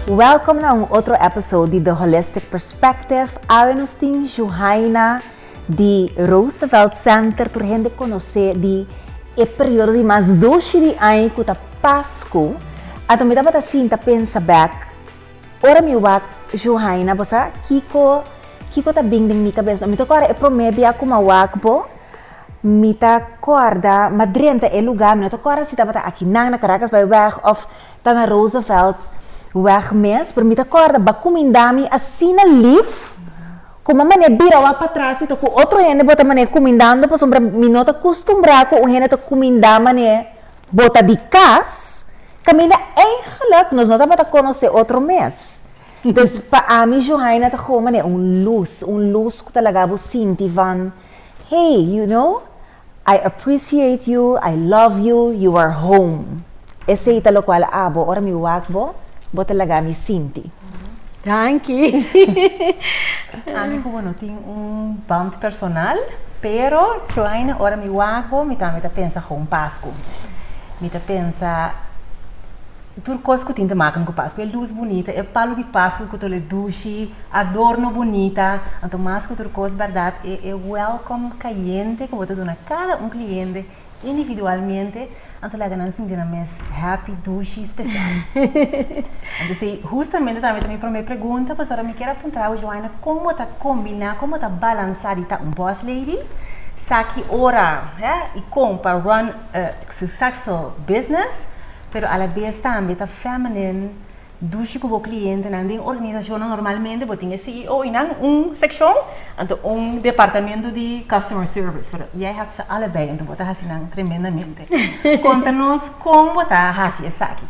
Welkom na un otro episode di The Holistic Perspective. Awe nos tin Juhaina di Roosevelt Center tur hende conoce di e periodo di mas doshi di aña cu ta Pascu. Ato mi tabata sinta pensa bek, ora mi wak Juhaina, bo sa kico kico ta bin den mi cabes no? Mi ta kora e prome bia cu mi a wak bo. Mi ta kòrda, ma drenta e lugá, mi no ta kòrda si tabata aki nan, na Caracasbaaiweg òf ta na Rooseveltweg mes, pero mi ta kòrda ba kuminda mi asina lif, ku bo manera bira wak patras si ta ku otro hende bo ta manera kumindando pasobra mi no ta kustumbrá ku un hende ta kuminda manera bo ta di kas, kaminda eingelik nos no tabata konosé otro mes. Entonces pa ami Juhaina ta gou manera un lus, un lus ku ta laga bo sinti van. Hey, you know, I appreciate you, I love you, you are home. Esei ta lokual abo, ora mi wak bo, bo ta laga mi sinti. Danki! Ami ku bo no tin un band personal, pero Kleine, ora mi wak bo, mi tambe ta pensa home Pasku. Mi ta pensa. Tur kos ku tin ta maka nan ku Paskua, e lus bunita, e palu di Paskua ku ta ole dushi, adorno bunita, anto mas ku tur kos bèrdat e e wèlkom kayente ku bo ta duna kada un kliente individualmente a ta laga nan sinti nan mes happy, dushi, spesial. Anto esei hustamente tambe ta mi promé pregunta, pasobra mi kier a puntra bo Joaina kon bo ta kombiná, kon bo ta balansá di ta un boss lady sa ki ora, e i kon pa run a successful business. pero alabes tambe ta feminin dushi ku bo klientenan. Den organisashonnan normalmente bo tin e CEO i nan un sekshon, anto un departamentu di customer service, pero jij hèb se alebei, anto bo ta hasi nan tremendamente. Konta nos kon bo ta hasi esaki.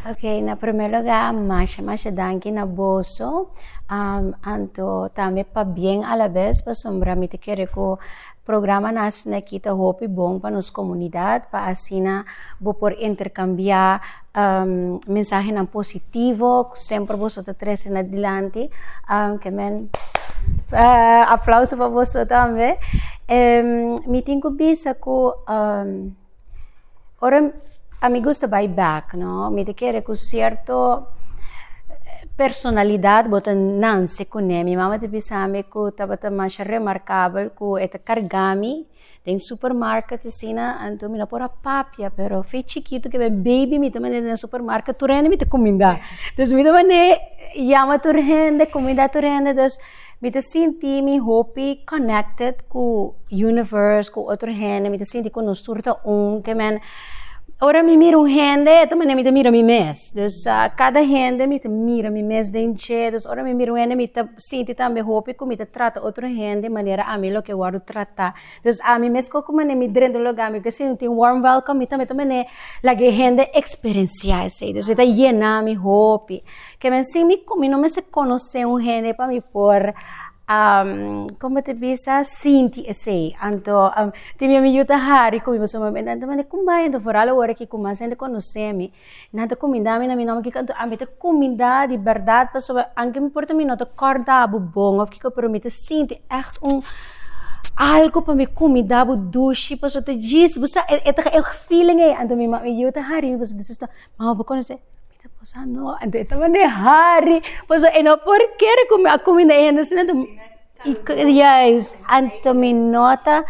Ok, na promé lugá masha masha danki na boso, anto tambe pabien alabes pasobra mi ta kere ku Programa Nace Aquí ta hopi bon pa nos komunidat pa asina bo por interkambiá mensahenan positivo ku semper boso ta trese na dilanti. Ke men aplauso pa boso tambe. Mi tin ku bisa ku. Ora a mi gusta bai bèk, no, mi ta kere ku sierto personalidat bo ta nanse kuné. Mi mama ta bisami ku tabata masha remarkabel ku e ta kargá mi den supermarket asina, anto mi no por a papia pero fe chikitu kebé baby mi ta manera den supermarket tur hende mi ta kumindá. Dus mi ta manera yama tur hende, kumindá tur hende, dus. Mi ta sinti mi hopi connected cu universe, cu otro hende, mi ta sinti cu nos tur ta un, te men ora mi mira un hende e ta manera mi ta mira mi mes, dus cada hende mi ta mira mi mes den dje, dus ora mi mira un hende mi ta sinti tambe hopi cu mi ta trata otro hende manera ami lo ke wordo trata. Dus ami mesco cu mane mi drenta un lugar mi ke sinti un warm welcome mi tambe ta mane laga e hende experiencia esey dus e ta yena mi hopi ke men sin mi mi no mester conoce un hende pa mi por um como te bisa sinti esey anto tin biamin yu ta hari cu mi pasobra mi ta mane cum bay anto foral awor aki cu mas hende conocemi Nan ta kumindami na mi nòmber kiko anto? Ami ta kuminda di bèrdat pasobra anke mi por ta mi no ta kòrda bo bon òf kiko pero mi ta sinti ègt un algu pa mi kuminda bo dushi pasobra ta djis bo sa e ta e feeling ei anto mi mami yu ta hari mi pasobra disusta mama bo konos'e? Mi ta bosa no anto e ta mane hari pasobra e no por kere ku mi a kuminda e hende asina anto. Y juist anto mi nota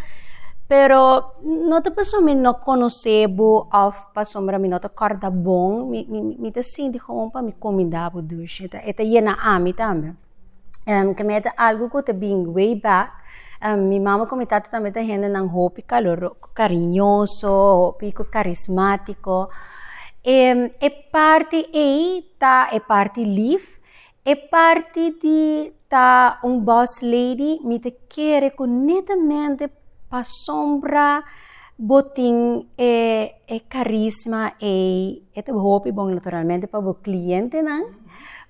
pero no ta paso mi no conoce bo of pasobra mi no ta corda bon mi mi ta sinti gewoon pa mi comida bo dushi e ta yena ami tambe en keme ta algo cu ta been way back en mi mama con mi tata tambe ta hendenan hopi caloro cariñoso hopi cu carismatico e parti ey ta e parti lief E parti di ta un boss lady mi ta kere ku netamente pasobra bo tin e e karisma ei e ta hopi bon naturalmente pa bo klientenan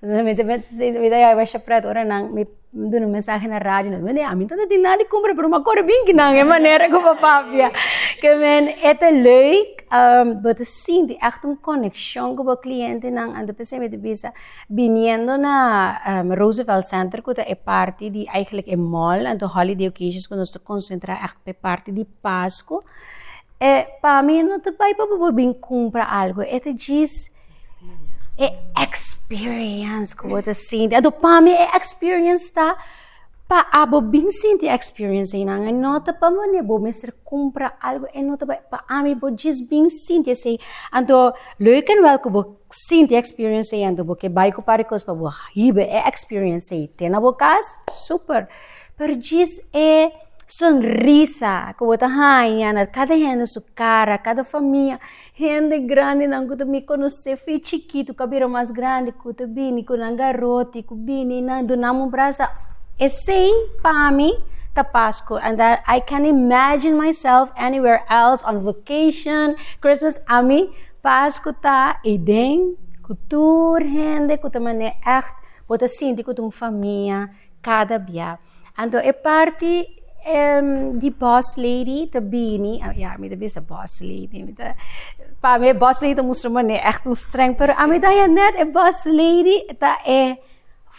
mi ta haña pret ora nan mi duna un mensahe na radio nan wende ami no ta tin nada di kumbra pero mi a kore binki nan e manera ku bo papia ke men e ta leuk bo ta sinti èkte un konekshon ku bo klientenan anto p'esei mi ta bisa. Biniendo na Roosevelt Center ku ta e parti di eigenlijk e mall anto holiday occasions ku nos ta konsentrá ègt pa e parti di Pasku e pa mi no ta bai pa bo bo bin kumpra algu e ta djis e experience ku bo ta sinti anto pa mi e experience ta pa abo bin sinti e experience einan e no ta pa bo bo mester kumpra algu e no ta bai pa ami bo djis bin sinti esei anto leuke nwèl ku bo. sinti experience ei anto bo ke bai ku par e kos pa bo hibe e experience ei te na bo kas super pero djis e sonrisa ku bo ta haña na kada hende su kara kada famia hende grandi nan ku ta mi konosé fi chikitu ku a bira mas grandi ku ta bini ku nan garoti ku bini nan dunam un brasa esei pa mi ta Pasku and that i can imagine myself anywhere else on vacation Christmas ami Pas ku ta Eden ku tur hende ku ta manera ègt bo ta sinti ku ta un famia kada bia. Anto e parti di boss lady ta bini, ya mi ta bisa boss lady mi ta pa mi e boss lady ta mustra manera ègt un strèng pero ami ta haña nèt e boss lady ta e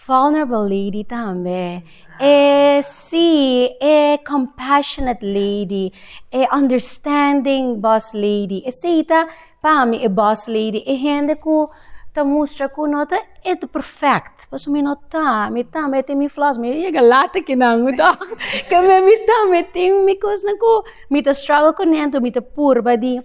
vulnerable lady tambe. E si, e compassionate lady, e understanding boss lady. Esei ta pa mi e boss lady, e hende ku ta mustra ku no ta e ta perfect, pasobra mi no ta, mi ta mi tin mi flaws, mi yega lata ki nan toch, mi ta mi tin mi kosnan ku mi ta struggle ku nan, mi ta purba di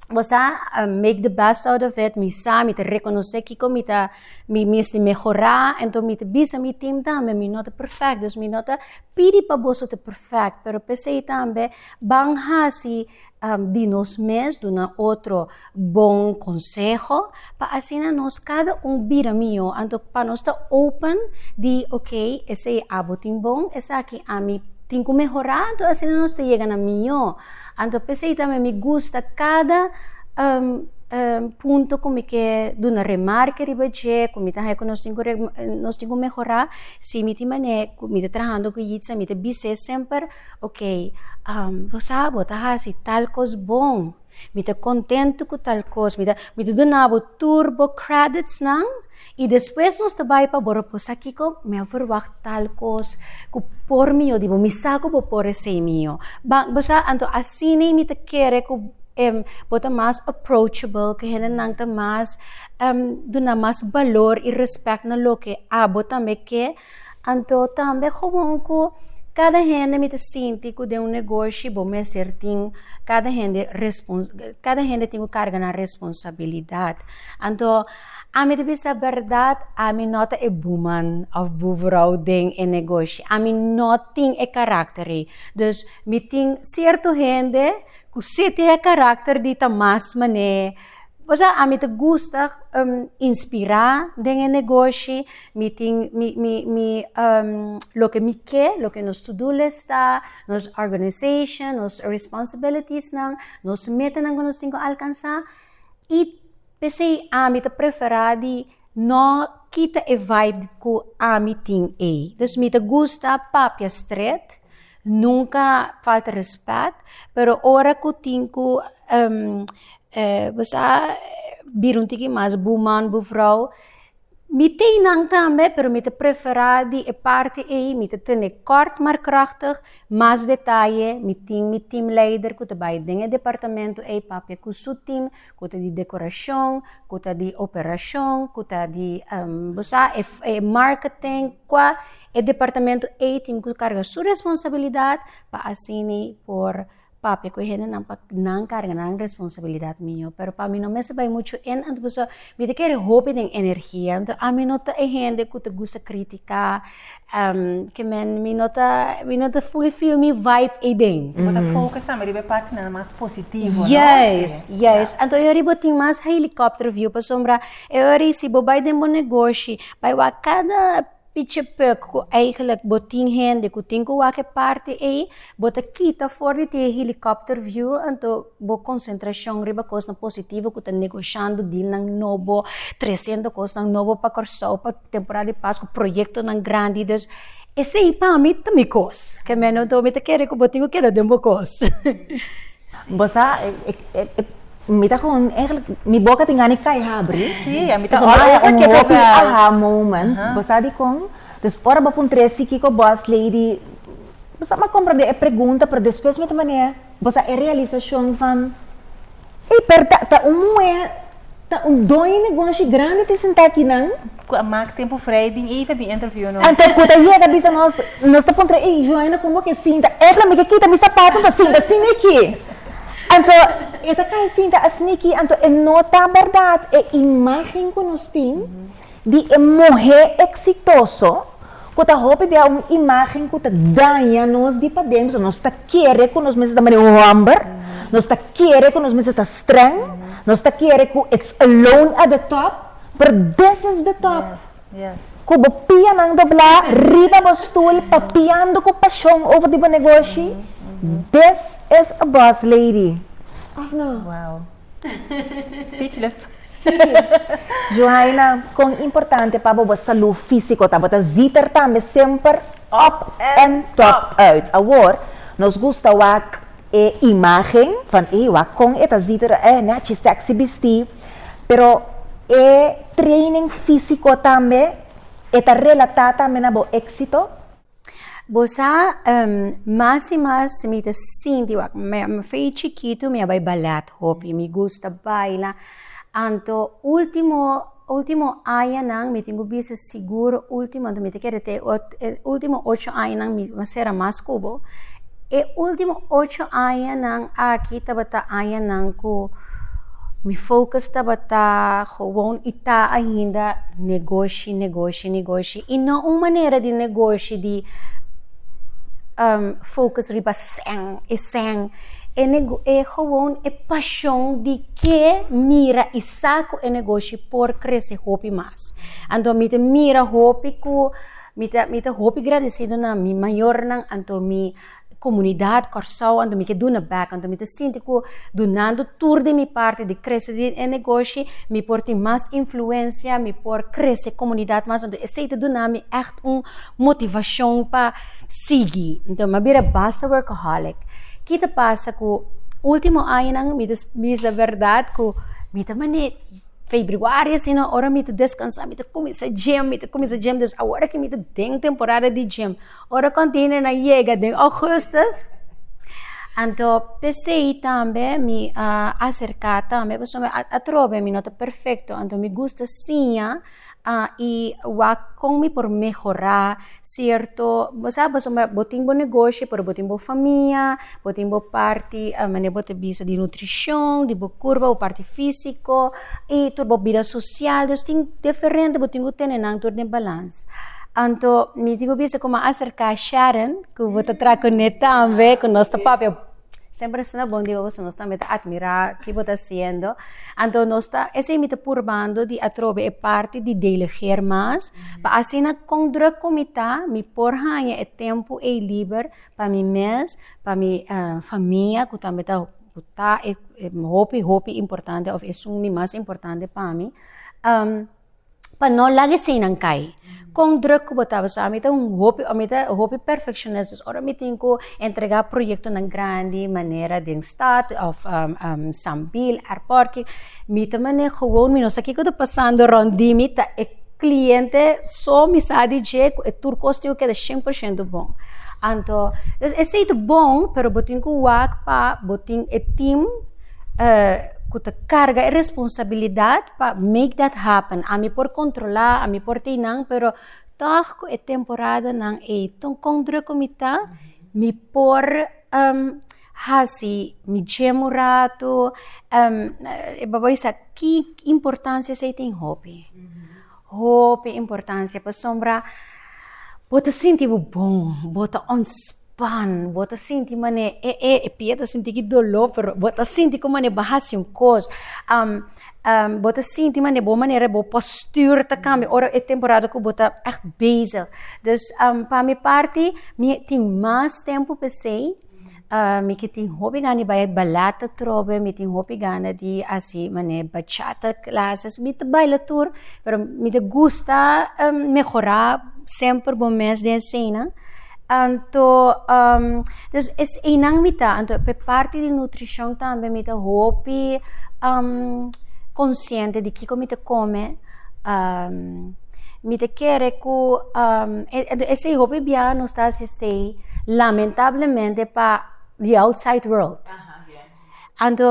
Bo sa, I make the best out of it, mi sa, mi ta rekonosé kiko mi ta, mi mester mehorá, enton mi ta bisa mi tim tambe, mi no ta perfect, dus mi no ta pidi pa boso ta perfect, pero p'esei tambe ban hasi di nos mes duna otro bon konseho, pa asina nos kada un bira mihó, anto pa nos ta open di ok, esei abo tin bon, esaki ami tin ku mehorá, anto asina nos ta yega na mihó. Anto p'esei tambe mi gusta kada punto ku mi ke duna remarke riba dje, ku mi ta haña ku nos tin ku nos tin ku mehorá, si mi tin manera ku mi ta trahando ku Yitza mi ta bis'é semper, okey bo sa bo ta hasi tal kos bon, mi ta kontentu ku tal kos, mi ta mi ta dunabo tur bo kreditsnan. I despues nos ta bai pa bo reposa kiko? Mi a verwacht tal kos ku por mio di bo. Mi sa ku bo por esei mio. Ba, bo sa, anto asina mi ta kere ku em, bo ta mas approachable, ku hendenan ta mas em, duna mas balor i respect na loke abo tambe ke. Anto tambe gewoon ku kada hende mi ta sinti ku den un negoshi bo mester tin kada hende respons kada hende tin ku karga nan responsabilidat. Anto ami ta bisa bèrdat ami no ta e buman òf buvrou den e negoshi, ami no tin e karakter ei, dus mi tin sierto hende ku si tin e karakter di ta mas manera. Bo sa ami ta gusta inspirá den e negoshi mi tin mi mi mi loke mi ke loke nos to do list ta nos organization nos responsibilitiesnan nos metenan ku nos tin ku alkansa i p'esei ami ta preferá di No kita e vibe ku ami tin ei. Dus mi ta gusta papia stret, nunka falta rèspèt, pero ora ku tin ku bosa bira un tiki mas buman buvrou, mi tei nan tambe pero mi ta prefera di e parti ei mi ta tene kort mar krachtig, mas detaye, mi tin mi team leider ku ta bai den e departamento ei papia ku su team Cu ta di decoracion, cu ta di operacion, cu ta di bo sa e marketing, cua e departamento ey tin cu carga su responsabilidad pa asini por papia cu e hendenan pa nan carga nan responsabilidad mijo. Pero pa mi no mester bay mucho in anto pasobra mi ta kere hopi den energia, anto ami no ta e hende cu ta gusta critica. Ke men, mi no ta, mi no ta fully feel mi vibe ei den. Bo ta focus tambe riba e partinan mas positivo, no? Yes, yes. Anto e ori bo tin mas helicopter view pasobra e ori si bo bai den bo negoshi bai wak kada pichi puk ku eigenlijk bo tin hende ku tin ku wak e parti ei, bo ta kita for di tin e helicopter view anto bo konsentrashon riba kosnan positivo ku ta negoshando deal nan nobo, tresendo kosnan nobo pa Kòrsou pa. Temporada di Pascua proyectonan grandi dus esey pa mi ta mi cos ke menos mi ta kere cu bo tin cu keda den bo cos. Bo sa mi ta con eigenlijk mi boca tin gana di cay habri aha moment bo sa dicon dus ora bo puntra esi kico boss lady bo sa a comprende e pregunta pero despues mi ta mane bo sa e realisacion van. Ey per ta ta un muher ta un doño negoshi grandi tin senta aki nan. Cu a maak tempo vrij bin even bin interview nos. Ento cu ta yega bisa nos nos ta puntra ey Joana como ke sinta epla mi ke kita mi sapato ta sinta asina aki ento e ta kai sinta asina aki ento e no ta berdad e imagen cu nos tin. di e muhé eksitoso ku ta hopi bia un imágen ku ta daña nos di padentu. So nos ta kere ku nos mester ta manera un hòmber, nos ta kere ku nos mester ta strèng, nos ta kere ku it's alone at the top, pero this is the top, ku bo pianan doblá riba bo stul papiando ku pashon over di bo negoshi, this is a boss lady, òf no? Speechless. Sí, Juhaina, kon importante pa bobo salú físiko ta? Bo ta zíter tambe semper up and top uit. Awor, nos gusta wak e imágen van ey wak kon e ta zíter e nèchi sèksi bistí. Pero e training físiko tambe e ta relatá tambe na bo éksito? Bo sa, mas i mas mi ta sinti, wak, mi a fe i chikitu mi a bai balèt hopi, mi gusta baila. Anto último, último añanan mi tin ku bisa sigur último, anto mi ta kere te ot e último ocho añanan mi a sera mas ku bo. E último ocho añanan aki tabata añanan ku mi focus tabata, gewoon i ta ainda negoshi, negoshi, negoshi. I no un manera di negoshi di focus riba sèn, e sèn, e nego e gewoon e pashon di ke mira i sa ku e negoshi por krese hopi mas. Anto mi ta mira hopi ku mi ta mi ta hopi gradesido na mi mayornan anto mi Comunidad Kòrsou anto mi ke duna bek, anto mi ta sinti ku dunando tur di mi parti di krese di e negoshi mi por tin mas influencia, mi por krese comunidad mas, anto esei ta duna mi ègt un motivashon pa sigui. Anto mi a bira basta workaholic. Ki ta pasa ku ultimo añanan mi ta bisa berdad ku mi ta mane febrüari asina ora mi ta deskansa mi ta kuminsá djem, mi ta kuminsá djem, dus awor aki mi ta den temporada di djem, Ora kontinernan yega den Augustus, anto pesei tambe mi a aserka tambe pasobra mi a atrobe mi no ta perfekto anto mi gusta siña i wak kon mi por mehorá sierto sa pasobra bo tin bo negoshi pero bo tin bo famia bo tin bo parti mane bo ta bisa di nutrishon di bo kurpa bo parti físiko. I tur bo bida sosial, Dios tin diferente, bo tin ku tene nan tur den balans. Anto mi tin ku bisa kuma aserká Sharon, ku bo ta traha kuné tambe, ku nos ta papia semper asina bon di boso, nos tambe ta atmirá ki bo ta hasiendo. Anto nos ta, esei mi ta purbando di atrobe e parti di delegeer mas, pa asina kon drùk ku mi ta, mi por haña e tempu ei liber pa mi mes, pa mi famia ku tambe ta. ku ta e hopi hopi importante òf esun di mas importante pa mi pa no laga eseinan kai kon drùk ku bo ta paso a mi ta un hopi mi ta hopi perfekshonist dus ora mi tin ku entregá proyektonan grandi manera den stat òf sambil èrpòrtki mi ta manera mi no sa kiko ta pasando rònt di mi ta e. cliente so mi sa di dje cu e tur cos tin cu keda cien por ciento bon. Anto, dus e sei ta bon, pero bo tin cu wak pa bo tin e team eh, cu ta carga e responsabilidad pa make that happen. Ami por controla, ami por tey nan, pero tog cu e temporadanan ey, con druk cu mi ta, mi por. Hasi mi djem un ratu, e babay sa ki importancia esey tin? Hopi, hopi importancia pasobra bo ta sinti bo bon, bo ta ontspan, bo ta sinti manera e e e pia ta sinti ki dolo pero bo ta sinti como manera bo hasi un cos bo ta sinti manera bo manera bo postuur ta cambia ora e temporada cu bo ta echt bezig, dus pa mi parti mi tin mas tempo pa esey. Mi ke tin hopi gana di bai balat atrobe, mi tin hopi gana di hasi mane bachata clases. Mi ta baila tur, pero mi ta gusta mehorá semper bon mes den eseinan. Anto dus es einan mi ta. Anto p'e parti di nutrishon tambe mi ta hopi konsiente di kiko mi ta kome. mi ta kere ku esei hopi biaha nos ta hasi esei lamentablemente pa di outside world. Anto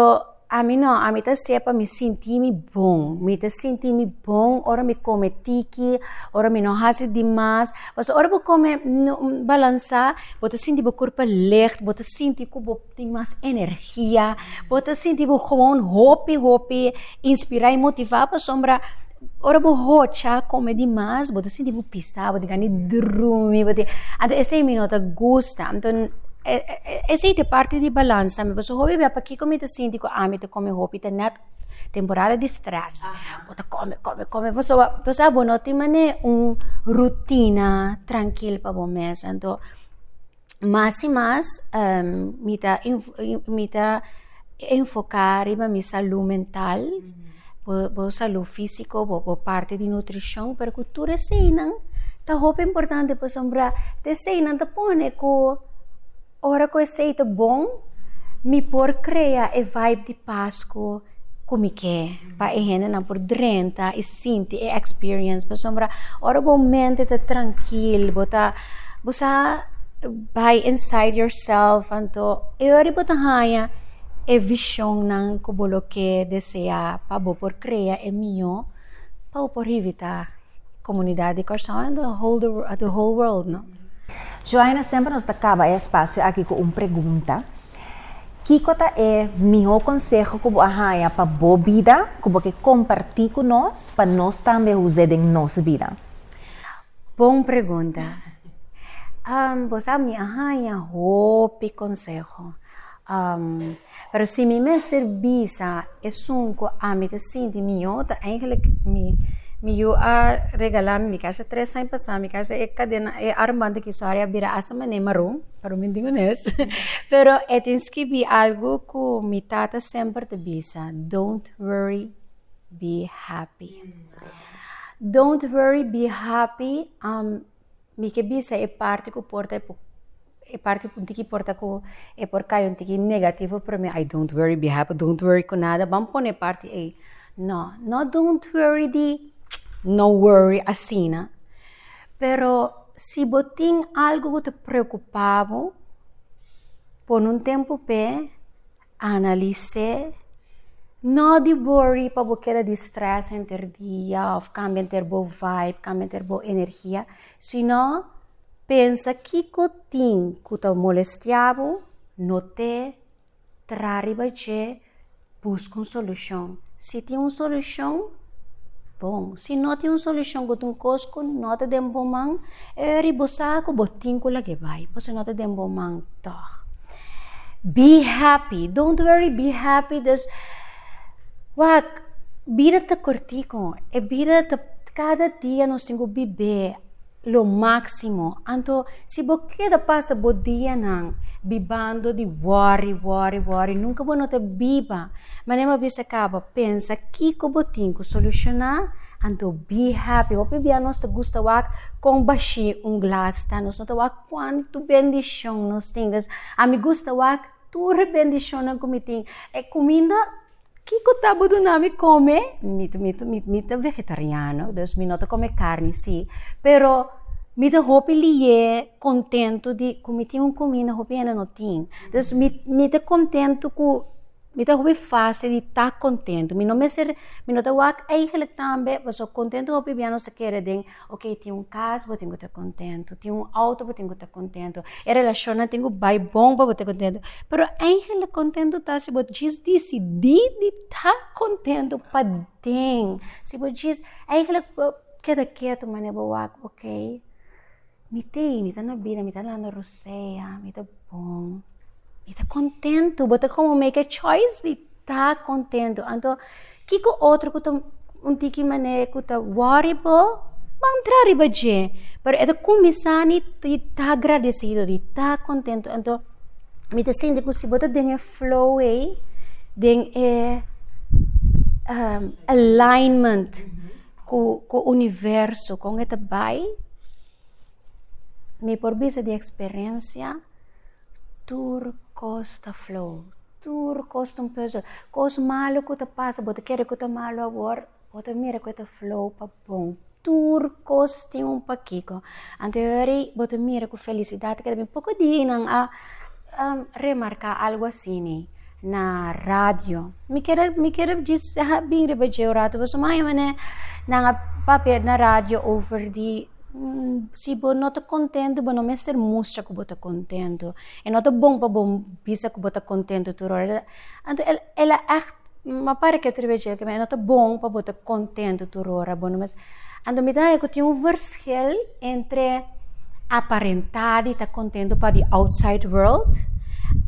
ami no, ami ta hasi'e pa mi sinti mi bon, mi ta sinti mi bon ora mi kome tiki, ora mi no hasi di mas, pasobra ora bo kome balansa bo ta sinti bo kurpa lègt, bo ta sinti ku bo. tin mas energia, bo ta sinti bo gewoon hopi hopi inspirá i motivá pasobra ora bo hocha kome di mas bo ta sinti bo pisá bo ta gana di drumi bo ta anto esei mi no ta gusta anto esei ta e parti di balans tambe pasobra hopi bia pakiko mi ta sinti ku ami ta kome hopi ta nèt temporada di strès bo ta kome kome kome pasobra bo sa bo no tin manera un rutina trankil pa bo mes anto. mas i mas mi ta mi ta enfoká riba mi salú mental, bo salú físiko, bo parti di nutrishon, pero ku tur eseinan ta hopi importante pasobra ta eseinan ta pone ku ora ku esei ta bon mi por krea e vibe di Pasku. cu mi ke pa e hendenan por drenta y sinti e experience pasobra ora bo mente ta trankil bo ta bo sa bay inside yourself anto e ora bo ta haya e visionnan cu bo lo ke desea pa bo por crea e miyo pa bo por hibi ta comunidad di Curaçao and the whole world no. Juaina semper nos ta caba e espacio aki cu un pregunta. Kiko ta e mihó konseho ku bo a haña pa bo bida ku bo ke kompartí ku nos pa nos tambe a us'é den nos bida? Bon pregunta! Bo sa mi a haña hopi konseho, pero si mi mester bisa esun ku ami ta sinti mihó ta eigenlik mi mi yu a regalá mi mi kèrsha tres aña pasá mi kèrsha e kadena e armbanti ki sòri a bira asta mané maron. Paro mi tin ones pero e tin skibi algu ku mi tata semper ta bisa don't worry be happy don't worry be happy mi ke bisa e parti ku por ta e parti un tiki por ta ku e por kaya un tiki negativo pero mi ai don't worry be happy don't worry ku nada ban pone e parti ei no no don't worry di no worry asina. Pero si bo tin algu ku ta preokupá bo, pone un tempu p'e, analis'é, no di worry pa bo keda di strès henter dia òf kambia henter bo vibe, kambia henter bo energia, sino pensa kiko tin ku ta molestiá bo, not'é. Tra riba dje, buska un solushon. Si tin un solushon, bon. Si no tin un solushon, bo ta un kos ku no ta den bo man, e ora ei bo sa ku bo tin ku lag'e bai, pasobra no ta den bo man tòg. Be happy, don't worry, be happy. Dus, wak bida ta kortiko. E bida ta, kada dia nos tin ku bib'é. Lo máksimo. Anto si bo keda pasa bo dianan bibando di wòri, wòri, wòri, nunka bo no ta biba. Manera bo a bisa kaba pensa kiko bo tin ku solushoná, anto bi happy. Hopi bia nos ta gusta wak kon bashí un glas ta. Nos no ta wak kuantu bendishon nos tin. Ami gusta wak tur e bendishonnan ku mi tin. E kuminda. Kiko ta bo duna mi come? Mi, mi, mi, mi ta vegetariano, dus mi no ta come carni si, pero mi ta hopi liye contento di cu mi tin un comina hopi hende no tin. Dus mi, mi ta contento cu mi ta hopi facil di ta contento. Mi no mester, mi no ta wak eigenlijk tambe pasobra contento hopi bia nos a kere den Ok, tin un cas bo tin cu ta contento, tin un auto bo tin cu ta contento, e relacionnan tin cu bay bon pa bo ta contento, pero eigenlic contento ta si bo djis dicidi di ta contento paden, si bo djis eigenlic bo keda ketu manera bo wak ok mi tey mi ta na bida mi ta landa rosea mi ta bon. Mi ta kontentu. Bo ta komo make a choice di ta kontentu. Anto, kiko otro ku ta un tiki manera e ku ta wòri bo, ban tra riba dje. Pero e ta kuminsá ni di ta gradesido, di ta kontentu. Anto, mi ta sinti ku si bo ta den e flow ei, den e alignment ku ku universo kon e ta bai, mi por bisa di eksperensia Tur kos ta flow. Tur kos ta un puzzle. Kos malu ku ta pasa, bo ta kere ku ta malu awor, bo ta mira ku e ta flow pa bon. Tur kos tin un pakiko. Anto e hori bo ta mira ku felisidat ta bini. Poko dianan a remarká algu asini na radio. Mi kere, mi kere djis bin riba dje un ratu pasobra nan a papia na radio over di. Si bo no ta kontentu, bo no mester mustra ku bo ta kontentu. I no ta bon pa bo bisa ku bo ta kontentu tur ora. Anto el a ègt ma pare ke otro bes dje, no ta bon pa bo ta kontentu tur ora. Bo no mes. Anto mi ta haña ku tin un vershel entre aparentá di ta kontentu pa di outside world,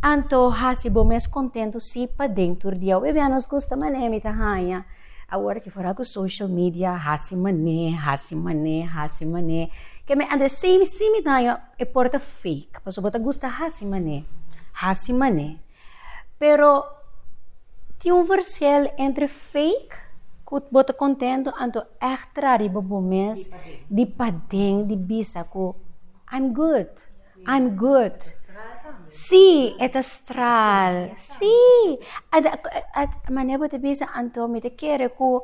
anto hasi bo mes kontentu si padentur di au. Biabianos gusta manera mi ta haña. Awor aki foral ku social media hasi man'é, hasi man'é, hasi man'é. Ke mi anda esei mi si mi daño e por ta fake, paso bo ta gusta hasi man'é, hasi man'é. Pero tin un versel entre fake ku bo ta kontento anto ègt traha riba bo mes di paden di bisa ku I'm good. I'm good. Sí, e ta stral. Sí. Mane bo ta bisa, anto mi ta kere ku,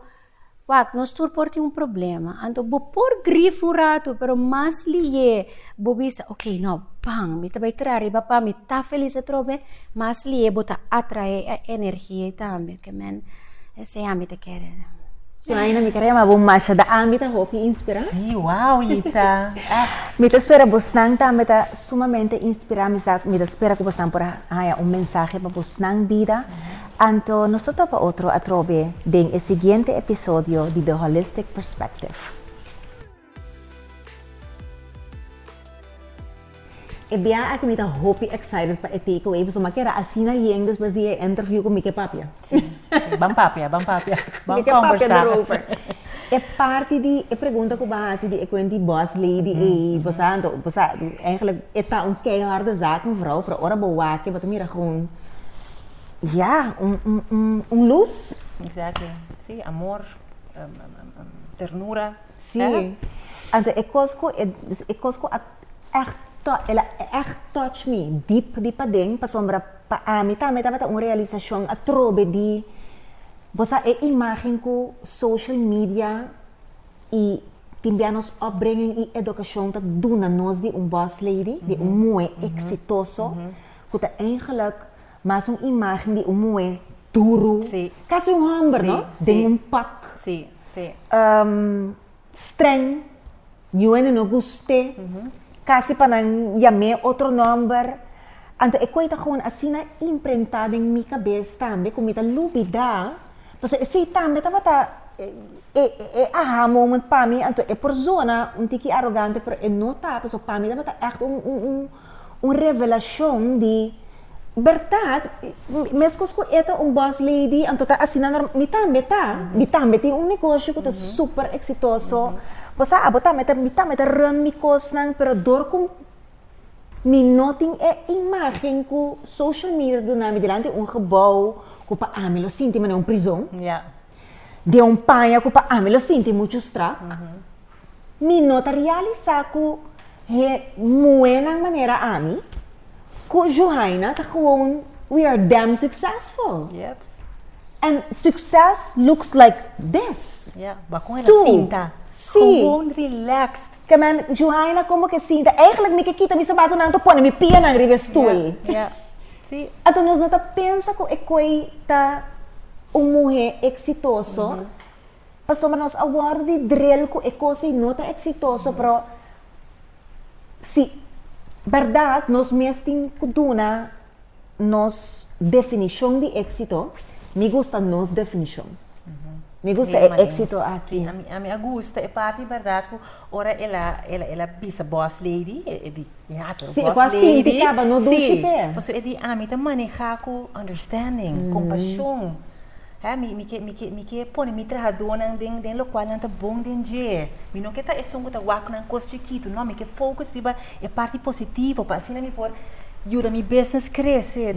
wak, nos tur por tin un problema. Anto bo por grif un ratu, pero mas lihé bo bisa, oke, nò, ban, mi ta bai traha riba pa mi ta felis atrobe, mas lihé bo ta atraé e energia ei tambe. Ke men esei ami ta kere. Jaina mi kere ma bo masha da ami ta hopi inspirá. Sí, wao Yitza. Ah. Mi ta spera bosnan tambe ta sumamente inspirá mi sa mi ta spera ku bosan por a haña un mensahe pa bosnan bida. Anto nos ta topa otro atrobe den e siguiente episodio di The Holistic Perspective. E biaha aki mi ta hopi excited pa e takeaway pasobra mi a keda asina yen despues di e interview cu mi ke papia. Sí, sí, ban papia, ban papia, ban conversa. Mi ke papia daarover. E parti di e pregunta cu bo a haci di e kuent di boss lady ey, bo sa anto, bo sa, eigenlijk e ta un keiharde zaak een vrouw, pero ora bo wak bo ta mira gewoon, ya, un luz. Exactly, sí, amor, ternura. Sí, anto e kos ku e kos ku a ègt el a ègt touch mi dip di paden pasobra pa ami tambe tabata un realisashon atrobe di bo sa e imágen ku social media i tin bia nos opbringing i edukashon ta duna nos di un boss lady di un muhé eksitoso ku ta eingelik. Mas un imagen di un muhé duru, casi un homber no, den un pak, streng, yuende no gusté, casi pa nan yam'é otro nomber. Anto e koe ta gewoon asina imprentá den mi cabes tambe cu mi ta lubidá, pasobra esei tambe tabata e aha moment pa mi, anto e por zona un tiki arogante pero e no ta, pasobra pa mi tabata echt un. Un revelashon di, Bèrdat, meskos ku e ta un bòs lady, anto ta asina nòrmal? Mi tambe ta. Mi tambe tin un negoshi ku ta super eksitoso. Bo sa, abo tambe ta, mi tambe ta run mi kosnan, pero dor ku mi no tin e imágen ku social media ta duna mi dilanti, un gebou ku pa ami lo sinti mi na un prizon. den un paña ku pa ami lo sinti muchu strak, mi no ta realisá ku he muhénan manera ami, ku Juhaina ta gewoon we are damn successful. Yep. And success looks like this. Ya, bakún el a sinta. Sí. Gewoon relaxed. Te men, Juhaina como que sinta? Eigenlijk mi ke kita mi sapatonan to pone mi pianan riba e stoel. Yeah, yeah. Sí. Anto nos no ta pensa cu e coi ta un muhe exitoso, pasobra nos a wordo di drill cu e cos ei no ta exitoso, pero si berdad nos mes tin cu duna nos definishon di éksito, mi gusta nos definishon. Mi gusta e Mesma éksito dins. aki. Sí, a mi, a mi a gusta e parti bèrdat ku ora el a, el a, el a bisa boss lady, e, e di, ya, pero Sí, e boss ku a lady. sinti kaba, no dushi sí, p'e. pasobra e di ami ta maneha ku understanding, kompashon. He, mi, mi ke, mi ke, mi ke pone mi trahadónan den, den lokual nan ta bon den dje. Mi no ke ta esun ku ta waknan kos chikitu, no, mi ke focus riba e parti positivo pa asina mi por yuda mi business krese,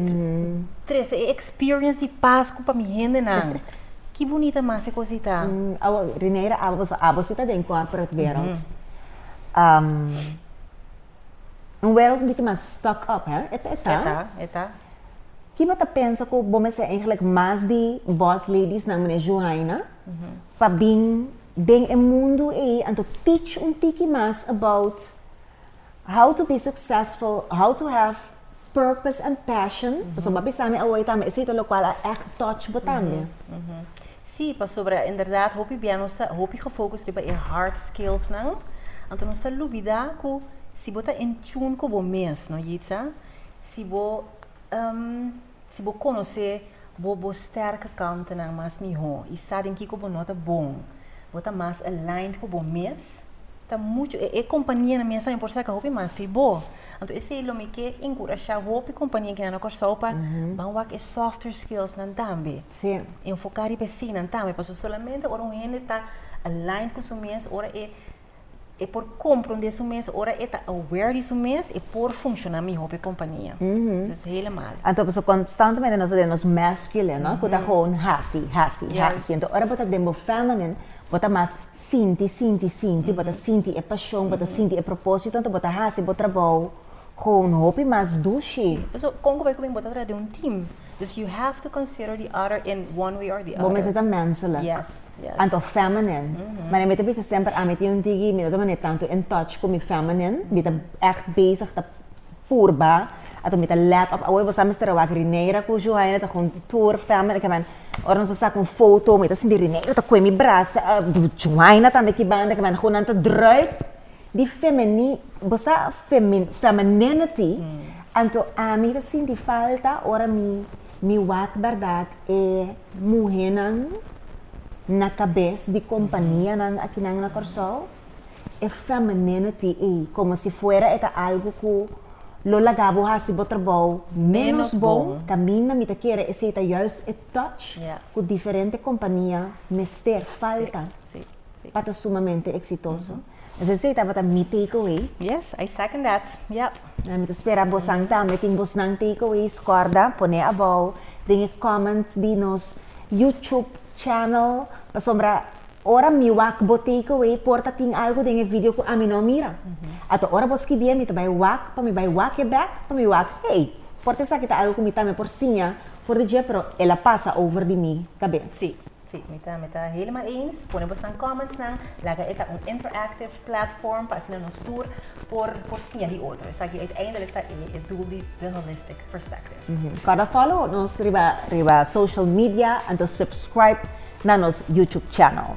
trese e experience di Pasku pa mi hendenan. Ki bunita mas e kosita! Awo, Rineira, awo, awo si ta den corporate wereld. Un wereld un tiki mas stuck up, hè? E ta, e ta. E ta, e ta. Ki bo ta pensa ku bo mester eigenlijk mas di boss ladiesnan meneer Juhayna pa bin den e mundu ei anto teach un tiki mas about how to be successful, how to have purpose and passion, pasobra bo a bisa mi awe tambe, esei ta lokual a ègt touch bo tambe. Sí, pasobra inderdat hopi bia nos ta hopi gefocus riba e hard skillsnan, anto nos ta lubida ku si bo ta in tune ku bo mes, no Yitza, si bo. Si bo konosé bo bo sterke kantnan mas mihó i sa den kiko bo no ta bon, bo ta mas aligned ku bo mes, ta muchu e kompanianan mes tambe por saka hopi mas fi bo. Anto esei lo mi ke enkurashá hopi kompania kinan na Kòrsou pa ban wak e softer skillsnan tambe. Sí. Enfoká riba eseinan tambe, pasobra solamente ora un hende ta aligned ku su mes ora e. e por compra un di su mes ora e ta aware di su mes e por funciona mihor pe compania mm -hmm. dus hele malo anto paso constantemente nos den nos masculine no mm -hmm. kuta gewoon hasi hasi yes. hasi anto ora bota den bo feminine bota mas sinti sinti sinti mm -hmm. bota sinti e pasion mm -hmm. bota sinti e propósito anto bota hasi bo trabajo cu un hopi mas dushi. Sí, paso con cu bay cu mi bo ta traha den un team, dus you have to consider the other in one way or the other. Bo mester ta menselijk. Yes, yes. Anto feminine. Mane mi ta bisa semper ami tin un tiki mi no ta mane tanto in touch cu mi feminine, mi ta echt bezig ta purba, anto mi ta let op awe bo sa mester a wak Rineira cu Joaina ta huntur feminine ke men ora nos ta saca un foto mi ta sinti Rineira ta cue mi brasa, Joaina tambe ki banda ke men, cu nan ta druk. di femeni bo sa femin femininity anto ami ta sinti falta ora mi mi wak berdad e muhenan na kabes di kompanianan aki nan na Kòrsou e femininity ei komo si fuera e ta algu ku lo laga bo hasi bo trabou menos bon kaminda mi ta kere esei ta juist e touch ku diferente kompania mester falta. pa ta sumamente eksitoso. Asina si e tabata mi takeaway. Yes, I second that. Yep. Nan mi ta spera bosan tambe tin bosnan takeaways. Kòrda pone abou den e comment di nos YouTube channel pasobra ora mi wak bo takeaway por ta tin algu den e video ku ami no mira. Anto ora bo skibi e mi ta bai wak pa mi bai wak e bèk pa mi wak hey, por ta esaki ta algu ku mi tambe por siña for di dje pero el a pasa over di mi kabes. Sí. Sí, mi ta mi ta helemaal eens. Pone bosnan comments nan, laga e ta un interactive platform pa asina nos tur por por siña di otro. Esaki uiteindelijk ta e e doel di The Holistic Perspective. Corda follow nos riba riba social media anto subscribe na nos YouTube channel.